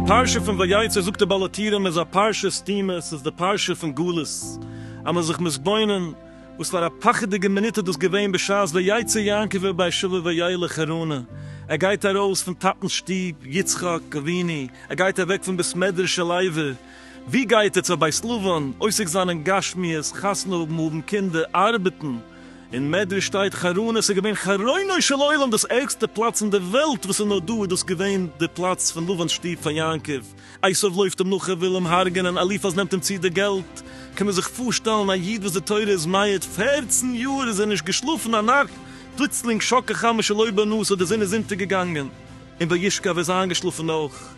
די פרשה פון ויצא זאגט די בעל התירם איז א פרשה סתומה, ס'איז די פרשה פון גלות, אז מ'איז זיך מתבונן וואס פאר א פחד'דיגע מינוט איז דאס געווען בשעת ויצא יעקב אל באר שבע וילך חרנה, ער גייט ארויס פון טאטנ'ס שטוב יצחק אבינו, ער גייט אוועק פון בית מדרש של לוי, ווי גייט ער? צו א בית לבן? עוסק זיין אין גשמיות, חתונה האבן, האבן קינדער, ארבעטן? אין מדרש שטייט חרון עס איז געווען חרונו של עולם דאס ערגסטע פלאץ אין דער וועלט וואס איז נאר דא איז דאס געווען די פלאץ פון לבן'ס שטוב פאר יעקב, עשיו לויפט אים נאך ער וויל אים הרג'נען, אליפז נעמט אים צו די געלט, קען מען זיך פארשטעלן א איד וואס די תורה איז מעיד פערצן יאר איז ער נישט געשלאפן א נאכט, פלוצלינג שקע חמה שלא בנס האט די זון איז אונטערגעגאנגען און וישכב ער איז איינגעשלאפן אויך.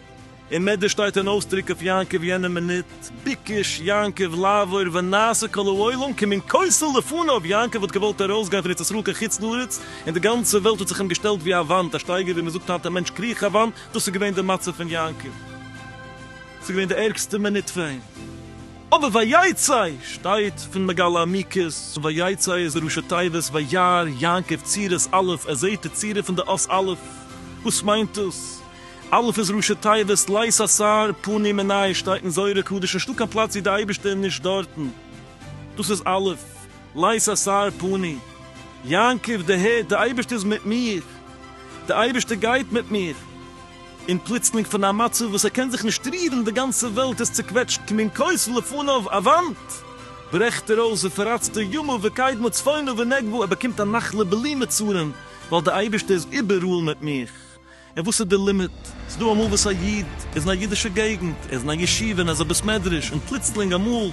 אין מדרש שטייט אן אויסדרוק אויף יעקב יענע מינוט, ביקש יעקב לעבור ונעשה כל העולם כמין כוסל לפניו, יעקב האט געוואלט ארויסגיין פון ארץ ישראל קיין חוץ לארץ, און די גאנצע וועלט האט זיך אים געשטעלט ווי א וואנט, א שטייגער ווי מען זאגט היינט א מענטש קריך א וואנט, דאס איז געווען די מצב פון יעקב, ס'איז געווען די ערגסטע מינוט פאר אים, אבער ויצא שטייט פון מגלה עמיקות, ויצא איז ראשי תיבות וירא יעקב צירות א', ער זעט די צירה פון די אות א', וואס מיינט דאס? אלף איז ראשי תיבות לית אסר פנים אין נייעס שטייט אין זוהר הקדוש נישטא קיין פלאץ ווי די אייבערשטער איז נישט דארטן דאס איז אלף לית אסר פנים יעקב די הערט די אייבערשטער איז מיט מיר די אייבערשטער גייט מיט מיר און פלוצלינג פון א מצב וואס ער קען זיך נישט רירן די גאנצע וועלט איז צוקוועטשט כמין כוס לפניו א וואנט ברעכט ער אויס ופרצת ימיו וקדמה צפונה ונגבה ער באקומט א נחלה בלי מצרים ווייל די אייבערשטער איז איבעראל מיט מיר. און וואס איז די לימיט? ס'דא אמאל וואס א איד איז אין א אידישע געגנט, ער איז אין א ישיבה און אזא בית מדרש, און פלוצלינג אמאל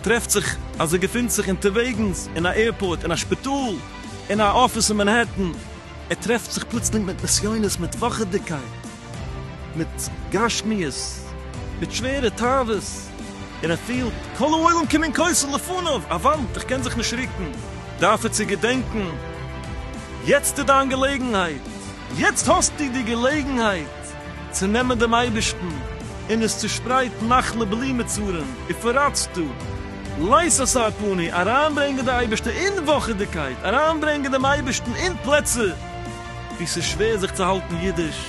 טרעפט זיך אז ער געפינט זיך אונטערוועגנס אין א עירפארט, אין א שפיטאל, אין א אפיס אין מאנהעטן, ער טרעפט זיך פלוצלינג מיט נסיונות, מיט פחד'דיגקייט, מיט גשמיות, מיט שווערע תאוות, און ער פילט כל העולם כמנקותו לפניו, א וואנט, איך קען זיך נישט רוקן. דארף ער צו געדענקן, יעצט איז דיין געלעגנהייט, יעצט האסטו די געלעגנהייט צו נעמען דעם אייבערשטן און עס צושפרייטן נחלה בלי מצרים ופרצתו לית אסר פני, אריינברענגען די אייבערשטע אין וואכעדיגקייט, אריינברענגען דעם אייבערשטן אין פלעצער וואו ס'איז שווער זיך צו האלטן אידיש.